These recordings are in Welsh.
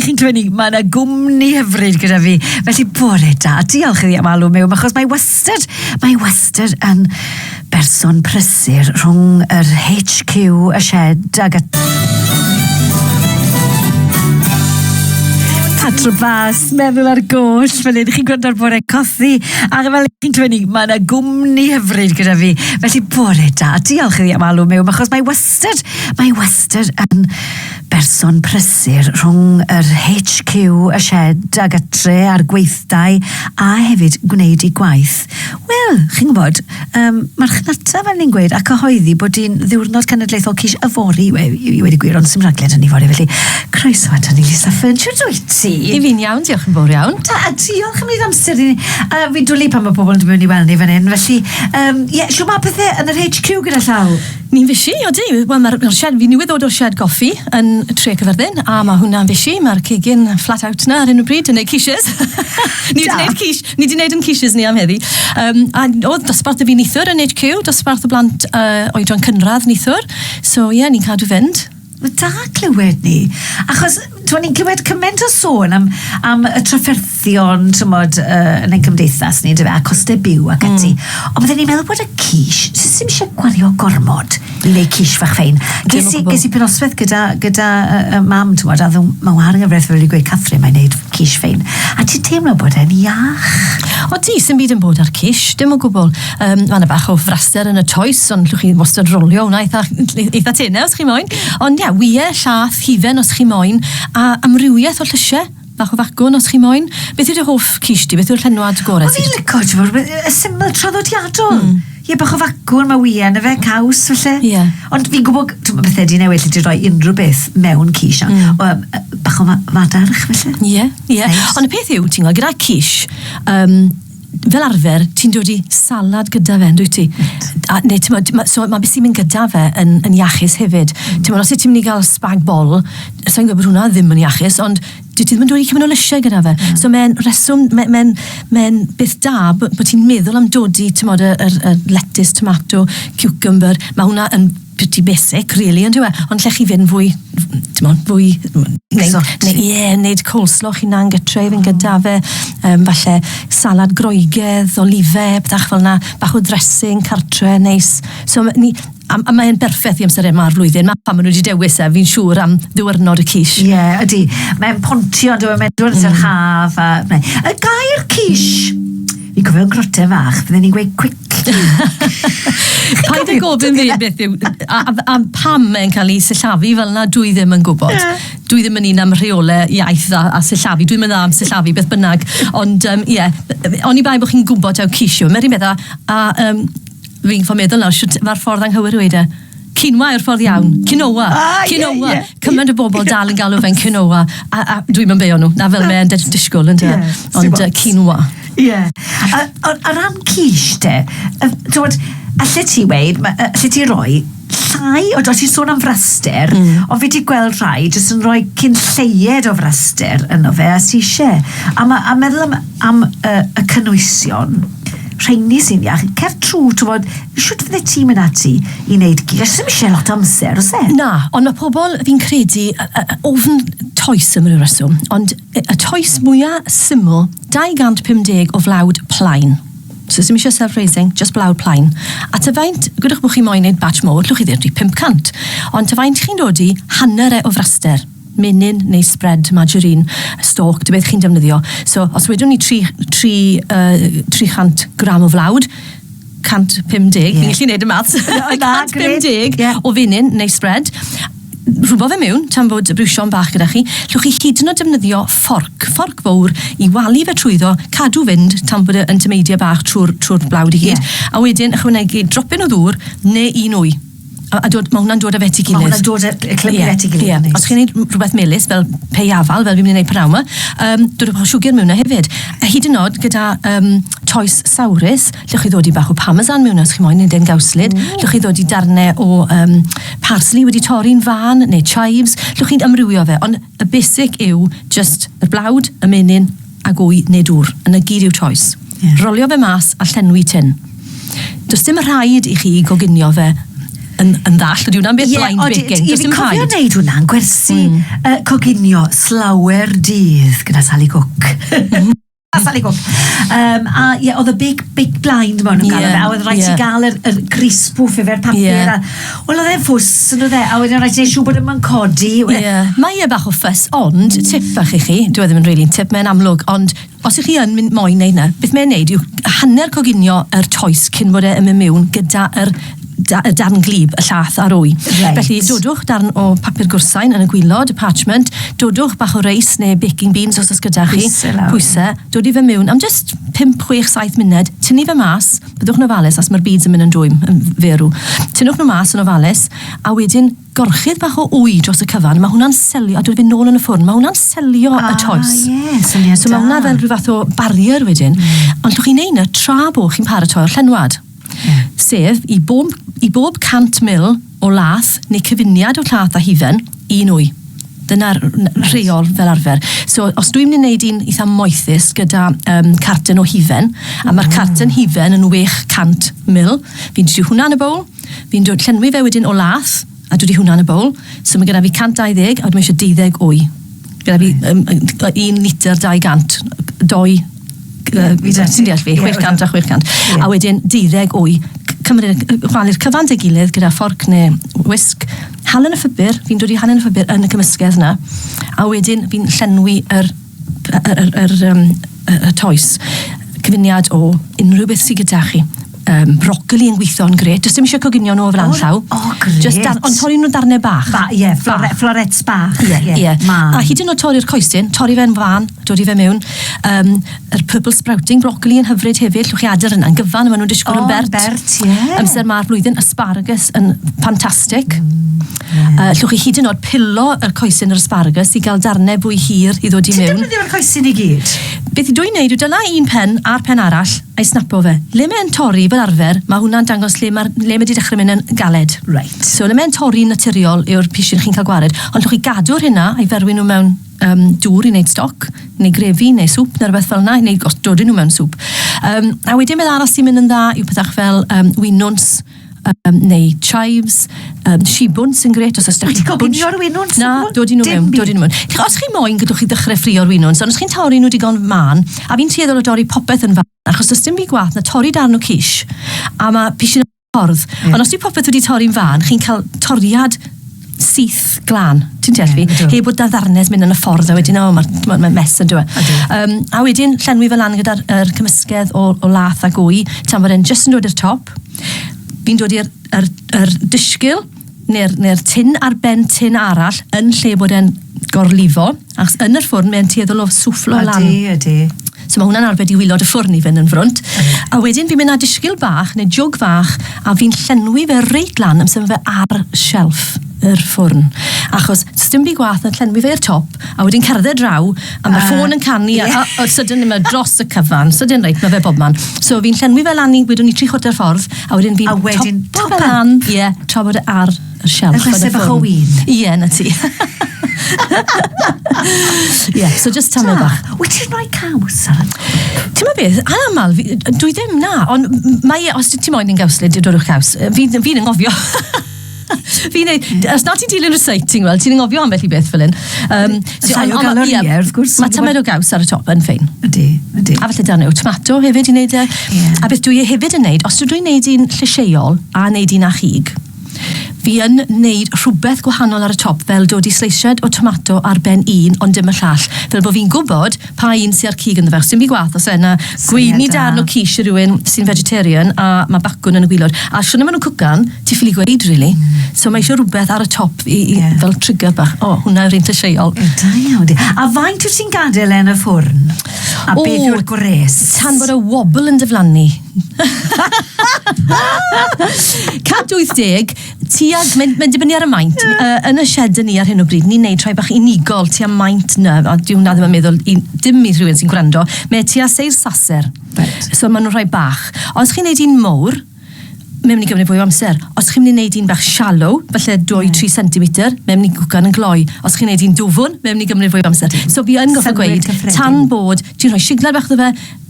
chi'n cynnig, mae yna gwmni hyfryd gyda fi. Felly, bore da. Diolch iddi am alw mewn, achos mae wastad, mae wastad yn berson prysur rhwng yr HQ, y shed ag y... Patro Bas, meddwl ar goll, fel hyn, chi'n gwrando ar bore cothi, a fel chi'n clynu, mae yna gwmni hyfryd gyda fi. Felly, bore da. Diolch iddi am alw mewn, achos mae wastad, mae wastad yn Berson prysur rhwng yr HQ, y sied a gytre a'r gweithdai a hefyd gwneud ei gwaith. Wel, chi'n gwybod, um, marchnata fel ni'n gweud a cyhoeddi bod hi'n ddiwrnod cenedlaethol cis yfory i, i, i wedi gwir, ond sy'n rhagled yn yfory felly. Croeso at ni, Lisa Fern, siwt wyt ti? I fi'n iawn, diolch yn fawr iawn. Ta, a diolch am wneud amser i ni. Uh, fi'n dwlu pan mae pobl yn dod mewn i weld ni fan hyn, felly, um, yeah, siw mae pethau yn yr HQ gyda llaw? Ni'n fishi, odi. Wel ma'r ma'r shed, fi newydd ddod o'r shed goffi yn Tre Cyffyrddin a ma' hwnna'n fishi, ma'r cegin flat out 'na ar hyn o bryd yn neud quiches. ni wedi neud quiche, ni wedi neud yn quiches ni am heddi. Um, a oedd dosbarth y fi nithwr yn HQ, dosbarth y blant uh, oedran cynradd nithwr. So ie, yeah, ni'n cadw fynd. Wel, da clywed 'ny. Achos, t'mod, ni'n clywed cymaint o sôn am am y trafferthion, t'mod, yy, yn ein cymdeithas ni, yndyfe, a coste byw ac ati. Hmm. Ond bydden ni'n meddwl bod y quiche, s- s- sim isie gwario gormod i neu' quiche fach fein. Dim o Ges i gwbwl. ges i penosbeth gyda gyda yy yy mam, t'mod, a o'dd o'n ma' wahad yn gyfreth wedi gweud Catherine mae'n neud quiche fein. A ti teimlo bod e'n iach. O ti, sim byd yn bod a'r quiche, dim o gwbwl. Um, mae yna bach o fraster yn y toes, ond llwch chi wastad rolio hwnna eitha, eitha tenau os chi moyn. Ond ia, ie, llath, hufen os chi moyn, a amrywiaeth o llysiau bach o fagwn os chi moyn. Beth yw'r hoff cis di? Beth yw'r llenwad gorau? O'n i'n lyco, ti'n fawr, y syml traddodiadol. Mm. Ie, bach o fagwn, mae wy yn y fe, caws, felly. Ie. Ond fi'n gwybod, ti'n gwybod, bethau di newid, lle di roi unrhyw beth mewn cis, a mm. um, bach o fadarch, felly. Ie, ie. Ond y peth yw, ti'n gwybod, gyda cis, um, fel arfer, ti'n dod i salad gyda fe, yndwyt ti? Wyt. A, neu, ti'n modd, ma, so, mae beth sy'n mynd gyda fe yn, yn iachus hefyd. Mm. Ti'n modd, os ti'n mynd i gael spag bol, sa'n gwybod bod hwnna ddim yn iachus, ond dwi ti ddim yn dod i cymryd o lysiau gyda fe. Mm. So mae'n reswm, mae'n mae, mae, mae beth da bod, bod ti'n meddwl am dodi, ti'n modd, y, y, y lettuce, tomato, cucumber, mae hwnna yn pretty basic really on'd yw e? Ond lle chi fynd fwy t'mod fwy Exotic. neu ie neud coleslaw chi'n hunan gytre i fynd gyda fe yym falle salad Groegaidd olive petach fel 'na bach o ddressing cartre neis so ma' ni a m- a mae e'n berffeth i amsere 'ma'r flwyddyn 'na pan ma' nw 'di dewis e fi'n siŵr am ddiwrnod y quiche. Ie ydi mae'n pontio on'd yw e mae'n dod yn yr haf a yy gair quiche Fi'n cofio grote fach, fydden ni'n gweud quick Paid â gofyn fi beth yw, a, a, a pam mae'n cael ei sillafu fel yna, dwi ddim yn gwybod. Yeah. Dwi ddim yn un am rheolau iaith a, a sillafu, dwi'n mynd am sillafu beth bynnag. Ond, um, ie, yeah, oni bai bod chi'n gwybod taw cisio. Mae'n rhywbeth a, a um, fi'n ffordd meddwl nawr, mae'r ffordd anghywir wedi. Quinoa yw'r ffordd iawn. Quinoa. Ah, quinoa. Yeah, yeah. Cymaint o bobl dal yn galw fe'n quinoa. A, a dwi'n mynd beio nhw. Na fel mae'n disgwyl, ynddo? Yeah, Ond uh, quinoa. Ie. Yeah. A, a, a ran quiche, te, uh, dod, allu ti weid, allu ti roi llai, o ti'n sôn am fraster, mm. o fi wedi gweld rhai jyst yn rhoi cyn lleied o fraster yno fe a si eisiau. A, ma, a meddwl am, am uh, y cynwysion, rheini sy'n iach, cer trwy, ti'n bod, Shwt fyddet ti'n mynd ati i wneud gig? Achos ddim eisiau lot o amser, oes e? Na, ond mae pobl, fi'n credu, ofn toes am ryw reswm. Ond y toes mwyaf syml, 250 o flawd plaen. So ddim eisiau self-raising, just blawd plaen. A ta faint, gwydwch bod chi moyn gwneud batch mowr, llwch chi ddeall dwi 500. Ond ta faint chi'n dod i, hanner e o fraster menyn neu spread margarine stalk, dy beth chi'n defnyddio. So, os wedwn ni 3, 3, uh, 300 gram o flawd, 150, yeah. fi'n gallu gwneud y maths, 150 yeah. o fenyn neu spread, rhywbeth fe mewn, tan fod y brwsio'n bach gyda chi, llwch chi hyd yn oed defnyddio fforc, fforc fawr, i walu fe trwyddo, cadw fynd tan bod yn tymeidio bach trwy'r trwy blawd i hyd, yeah. a wedyn ychwanegu dropyn o ddŵr neu un wy. A, a dod, mae hwnna'n dod â fe at ei gilydd. Mae hwnna'n dod â clymu yeah, at ei gilydd. Yeah. Os chi'n gwneud rhywbeth melus fel pei afal, fel fi'n mynd i wneud pnawn yma, um, dod â bach o siwgr mewn na hefyd. A hyd yn oed gyda um, toes sawrus, lle chi ddod i bach o parmesan mewn os chi moyn, neu den gawslid, mm. lle chi ddod i darnau o um, parsley wedi torri'n fan, neu chives, lle chi'n ymrwywio fe. Ond Y basic yw jyst yr blawd, y menyn, ag wy neu dŵr. Yn y gyd yw choice. Ie. Rolio fe mas a llenwi tin. Does dim rhaid i chi goginio fe yn, yn ddall, ydy hwnna'n beth blind baking? Ie, ond fi'n cofio wneud hwnna yn gwersi mm. uh, coginio slawer dydd gyda Sally Cook. Sally Gwmp. Um, a ie, oedd y big, big blind maen nhw'n yeah, gael fe, a oedd rhaid yeah. ti gael yr, yr gris pwff efo'r papur. Yeah. Wel, oedd e'n ffws, yn oedd e, a wedyn rhaid ti'n siw bod yma'n codi. Yeah. Mae e bach o ffys, ond tip fach i chi, dwi e ddim yn really tip, mae'n amlwg, ond os ych chi yn mynd moyn neud na, beth mae'n neud yw hanner coginio yr toes cyn bod e'n mynd mewn gyda'r da, y darn glib, y llath a'r wy. Reit. Felly dodwch darn o papur gwrsain yn y gwylod, y parchment, dodwch bach o reis neu baking beans os oes gyda chi. Pwyse lawr. Pwyse, dodi fe mewn am just 5, 6, 7 munud, tynnu fe mas, byddwch yn ofalus os mae'r beads yn mynd yn dwym, yn ferw. Tynnwch nhw mas yn ofalus, a wedyn gorchudd bach o wy dros y cyfan, mae hwnna'n selio, a dod fe nôl yn y ffwrn, mae hwnna'n selio y ah, toes. Ah, ie, syniad So mae hwnna fel rhyw fath o barrier wedyn, mm. ond llwch chi'n neud na tra bo chi'n paratoi'r llenwad. sef i bob, i bob 100 mil o lath neu cyfuniad o llath a hufen, un wy. Dyna'r rheol fel arfer. So, os dwi'n mynd i wneud un eitha moethus gyda um, carten o hufen, a mae'r carten hufen yn 800 mil, fi'n trio hwnna yn y bowl, fi'n dod llenwi fe wedyn o lath, A dwi 'di hwnna yn y bowl. So ma' gyda fi 120 a wedyn ma' isio deuddeg wy. Gyda fi yym yy un litr 200 yy dou yy ti'n deall fi, chwech cant a chwech cant. A wedyn deuddeg wy. C- cymru- yy chwalu'r cyfan 'da'i gilydd gyda fforc ne' wisg, halen y ffibr, fi'n dod i halen y ffibr yn y cymysgedd 'na, a wedyn fi'n llenwi yr yr, yr, yr, um, y toes. Cyfuniad o unrhyw beth sydd gyda chi um, brocoli yn gweithio yn gret. Does dim eisiau coginio nhw o flan llaw. O, oh, gret. Just dar, ond torri nhw darnau bach. Ba, ie, yeah, flore, bach. florets bach. Ie, yeah, ie. Yeah. Yeah. A hyd yn oed torri'r coesyn, torri fe'n fan, dod i fe mewn. Um, yr purple sprouting, brocoli yn hyfryd hefyd, llwch chi adael yna, yn gyfan, maen nhw'n disgwyl oh, yn bert. bert, ie. Yeah. Amser mae'r flwyddyn, asparagus yn ffantastig. Mm. Mm. Uh, llwch chi hyd yn oed pilo y coesyn yr asparagus i gael darnau fwy hir i ddod i mewn. Ti'n defnyddio'r coesyn i gyd? Beth i dwi'n neud yw dyna un pen a'r pen arall a'i snapo fe. Le mae'n torri fel arfer, mae hwnna'n dangos le mae, le mae wedi dechrau mynd yn galed. Right. So le mae'n torri naturiol yw'r pishin chi'n cael gwared. Ond llwch chi gadw'r hynna a'i ferwi nhw mewn um, dŵr i wneud stoc, neu grefi, neu sŵp, neu rhywbeth fel yna, neu os dodyn nhw mewn sŵp. Um, a wedyn beth arall sy'n mynd yn dda yw pethach fel um, winwns, um, neu chives, um, shibwns yn gret, os ydych chi'n... Ti'n o'r winwns? Na, dod i nhw mewn, dod i nhw mewn. Os chi'n moyn, gydwch chi ddechrau ffrio'r winwns, ond os chi'n torri nhw digon fan, a fi'n tueddol o dorri popeth yn fan, achos does dim byd gwath na torri darn o cish, a mae pishin ffordd. Yeah. Ond os yw popeth wedi torri'n fan, chi'n cael toriad syth glân, ti'n deall fi? Yeah, Heb bod da ddarnedd mynd yn y ffordd, a wedyn, o, mae'n ma mes yn dweud. Um, a wedyn, llenwi fel lan gyda'r er cymysgedd o, o lath a gwy, tan bod e'n just yn dod i'r top. Fi'n dod i'r er, er dysgil, neu'r neu tin ar ben tin arall, yn lle bod e'n gorlifo. Ac yn yr ffwrn, mae'n tueddol o swfflo lan. Ydy, ydy. So mae hwnna'n arbed i wylod y ffwrn i fynd yn frwnt. A wedyn fi'n mynd â disgyl bach neu jwg fach a fi'n llenwi fe reit lan am symud fe ar shelf yr ffwrn. Achos dim byd gwath na llenwi fe i'r top a wedyn cerdded draw a mae ffôn yn canu a, a, a sydyn mae dros y cyfan. Sydyn reit, mae fe bob man. So fi'n llenwi fe lan i, wedwn ni, tri chwarter ffordd a wedyn fi'n topo fe lan, ie, tra bod e ar Yr sialch yn y ffwrn. bach o win. Ie, na ti. Ie, so just tamle bach. Wyt ti'n rhoi caws ar y Ti'n meddwl beth, ar aml, dwi ddim na, ond mae, e- os ti'n moyn yn gawslid, dodwch caws. Fi'n fi yn ngofio. Fi'n ei, os na ti'n dilyn reciting, wel, ti'n ngofio ambell i beth fel hyn. Um, so, Llai o galorie, wrth gwrs. Mae tamed o gaws ar y top yn ffein. Ydy, ydy. A falle dan yw tomato hefyd i wneud e. Yeah. A beth dwi e hefyd yn wneud, os dwi'n wneud un llysieuol a wneud un â chig, Fi yn neud rhwbeth gwahanol ar y top fel dod i sleisiad o tomato ar ben un ond dim y llall fel bo fi'n gwbod pa un sy a'r cig ynddo fe achos dim byd gwath os yna gweini darn o quiche i rywun sy'n vegetarian a ma bacwn yn y gwilod a shwna ma nhw'n cwcan ti ffili gweud rili so ma isio rhwbeth ar y top i i fel trigger bach o hwnna yw'r un llysieuol. Da iawn di. A faint wt ti'n gadel e yn y ffwrn? A beth yw'r gwres? Tan bod y wobl yn diflannu. 180, tuag, mae'n mae dibynnu ar y maint. Uh, yn y shed ni ar hyn o bryd, ni'n neud rhai bach unigol tua maint na, a diw na ddim yn meddwl, i, dim i rhywun sy'n gwrando, mae tua seil saser. Right. So maen nhw'n rhai bach. Os chi'n neud un mowr, mae'n mynd i gymryd fwy o amser. Os chi'n mynd i wneud un bach shallow, falle 2-3 cm, mae'n mynd i gwcan yn gloi. Os chi'n wneud un dwfwn, mae'n mynd i gymryd fwy o amser. So fi yn goffa gweud, tan bod, ti'n rhoi signal bach ddo fe,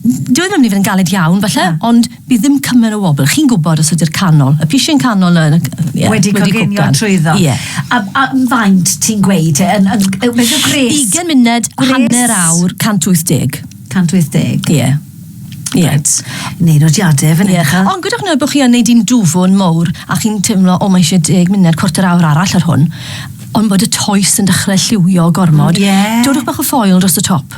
Dyw e ddim yn mynd i fod yn galed iawn falle... Na. ...ond bydd ddim cymaint o wobl. Chi'n gwbod os ydi'r canol, y pishyn canol yn c- yy ie... Wedi coginio... wedi cwcan. ...trwyddo. Ie. A a faint ti'n gweud yy yn yn yy beth yw gwres? Ugen munud... Gwres? ...hanner awr, 180. 180? Ie. Ie. Reit. Neud nodiade fan 'yn ch'wel'. Ie. Ond gwedwch nawr bo' chi yn neud un dwfwn mowr a chi'n teimlo o mae isie deg munud, cwarter awr arall ar hwn on' bod y toes yn dechre lliwio gormod... Ie. ...dodwch bach o ffoil dros y top.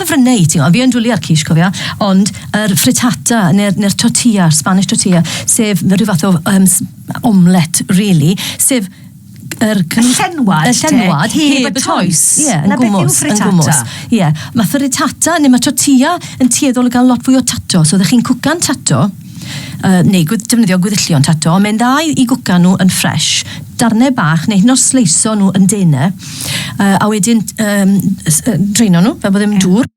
Cyfryngau i ti. O, fi yn dwlu ar quiche, cofia. Ond yr frittata, neu'r neu tortilla, Spanish tortilla, sef rhyw fath o um, omlet, really, sef yr y llenwad, y llenwad heb y toes. Ie, yeah, yn gwmwys, yn gwmwys. Ie, yeah. mae frittata neu mae tortilla yn tueddol o gael lot fwy o tato. So, ydych chi'n cwcan tato, uh, neu gwyd, defnyddio gwyddillion tato, ond mae'n dda i, i gwca nhw yn ffres, darnau bach, neu hyn o'r sleiso nhw yn denau, uh, a wedyn um, draeno nhw, fel bod ddim yeah. dŵr,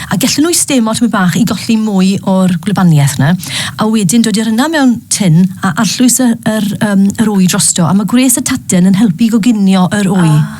a gellyn nhw i stemo tymor bach i golli mwy o'r gwlybaniaeth yna, a wedyn dod i'r yna mewn tin a arllwys yr, yr, um, yr wy drosto, a mae gwres y taten yn helpu i goginio yr wy. Ah.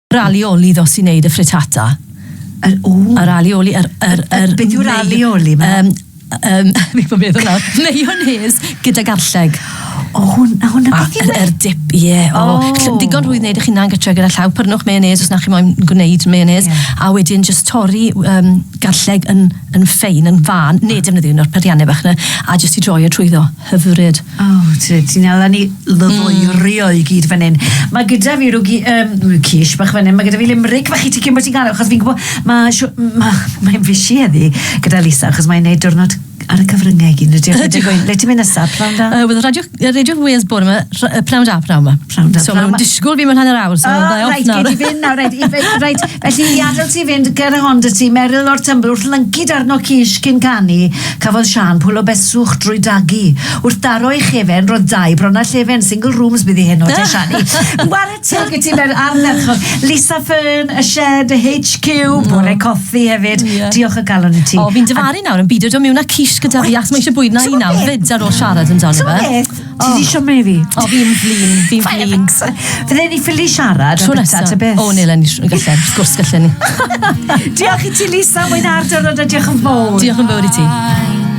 Yr alioli ddo sy'n neud y frittata. Yr o! Yr alioli, yr... yr, yr... Beth yw'r alioli 'ma? Yym, yym, fi'n gwbo beth yw e. Mayonnaise gyda garlleg. O hwn- a hwnna beth yw e? A yr dip, ie, o. O! Ll- digon rhwydd neud eich hunan gytre gyda llaw. Prynwch mayonnaise os na chi moyn gwneud mayonnaise. Ie. A wedyn jyst torri w- yym garlleg yn yn ffein, yn fân, neu defnyddio un o'r perianne bach 'na, a jyst i droi'o trwyddo. hyfryd. O, oh, ti'n ti ala ni lyfoerio mm. i gyd fan hyn. Mae gyda fi rhywgi, um, cish bach fan hyn, mae gyda fi limrig bach i ti cyn bod ti'n gael, achos fi'n gwybod, mae'n ma, ma fysi eddi gyda Lisa, achos mae'n neud diwrnod ar y cyfryngau i gyd. Le ti'n mynd nesaf, prawn da? Uh, Wedd radio, radio Wales bore yma, prawn da, prawn yma. Pnawn da. So maen nhw'n disgwyl fi mewn hanner awr, so oh, dda off nawr. Reit, fynd nawr, reit, reit, felly i adael ti fynd ger y Honda ti, Meryl o'r Tymbl, wrth lyncu darno cis cyn canu, cafodd Sian pwlo beswch drwy dagu. Wrth daro ei chefen, roedd dau bron a llefen, single rooms bydd i hyn o te Siani. War y teg i ti mewn ar merchog. Lisa Fern, y shed, y HQ, bore coffi hefyd. Diolch o galon i ti. O, fi'n dyfaru nawr yn byd o mewn a cis gyda fi, ac mae eisiau bwyd na i nawr, fyd ar ôl siarad yn amdano fe. Ti di siwm i fi? O, fi'n flin, fi'n flin. Fydde ni ffili siarad am bita ta beth. O, nil yn gallu, wrth gwrs gallu ni. diolch i ti, Lisa, mwyn ar diwrnod a diolch yn fawr. Diolch yn fawr i ti.